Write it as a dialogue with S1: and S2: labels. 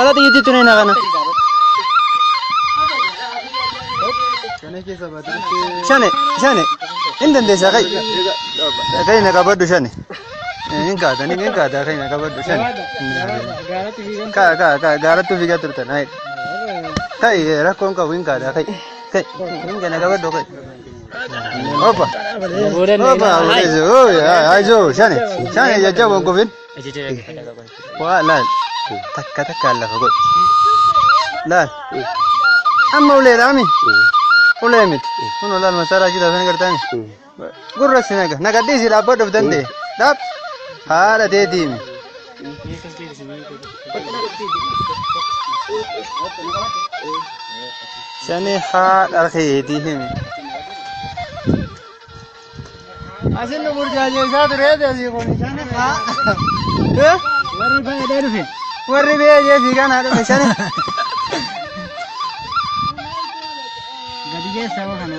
S1: Ala xiyyiitti tuni na kana. Shane, shane. Hin dandeessaa kai. Kai na qabadhu shane. Hin kaata, ni hin kaata kai na qabadhu shane. Kaa, kaa, kaa, gaarattu fiigaa turtan. Hai. Kai, rakkoon qabu hin kaata kai. Kai, hin kana qabadhu kai. Opa. Opa, Aurelio. Uy, ay- ay, yo, shane. Shane, ya jabo hin kufin. Waa laal. Takka takkaan lafa godhi. Laal. Amma ulee dhaami. Ulee miti. Kun olaal masaaraa jira sana gartaani. Gurra si naga. Nagadhii si dhaabbadhuuf danda'e. Dhaab. Haadha teetiimi. Sani haadha keetii himi. Asin nu burjaajeessaa turee deesii kun sani haa.
S2: Warri baay'ee dhufe. Warri baay'ee
S1: fi kanaa dhufe sani.
S2: Gadi geessaa kana.